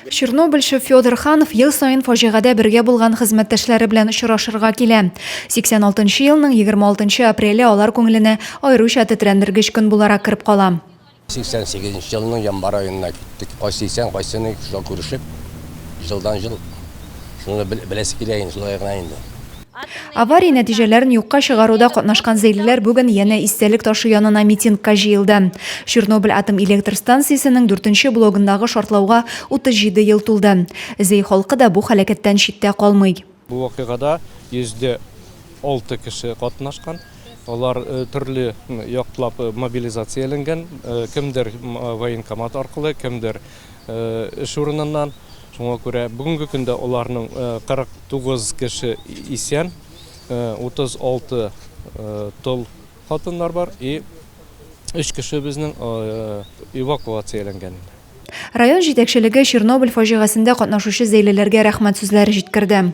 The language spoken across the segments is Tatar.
Чернобыльчы Федор Ханов ел саен фаҗигадә бергә булган хезмәттәшләре белән очрашырга килә. 86 елның 26 апреле алар күңеленә аеруча тетрәндергеч көн буларак кереп кала. 88 елның январ аенда киттек. Кайсы исән, кайсы ни, шулай күрешеп, җылдан-җыл шуны беләсе килә инде, шулай гына инде. Авария нәтиҗәләрен юкка чыгаруда катнашкан зәйлеләр бүген янә истәлек ташы янына митингка җыелды. Чернобыль атом электр станциясенең дүртенче блогындагы шартлауга 37 ел тулды. Зәй халкы да бу һәлакәттән читтә калмый. Бу вакыйгада 106 кеше катнашкан. Алар төрле яклап мобилизацияләнгән, кемдер военкомат аркылы, кемдер эш урыныннан. Шуңа күрә бүгенге көндә аларның 49 кеше исән, 36 тол хатыннар бар и 3 кеше безнең эвакуацияләнгән. Район җитәкчелеге Чернобыль фаҗигасендә катнашучы зәйлеләргә рәхмәт сүзләре җиткерде.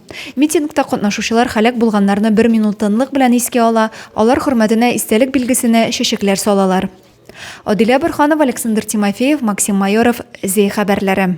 Митингта катнашучылар һәлак булганнарны бер минут тынлык белән искә ала, алар хөрмәтенә истәлек билгесенә чәчәкләр салалар. Адилә Борханова, Александр Тимофеев, Максим Майоров, Зи хәбәрләре.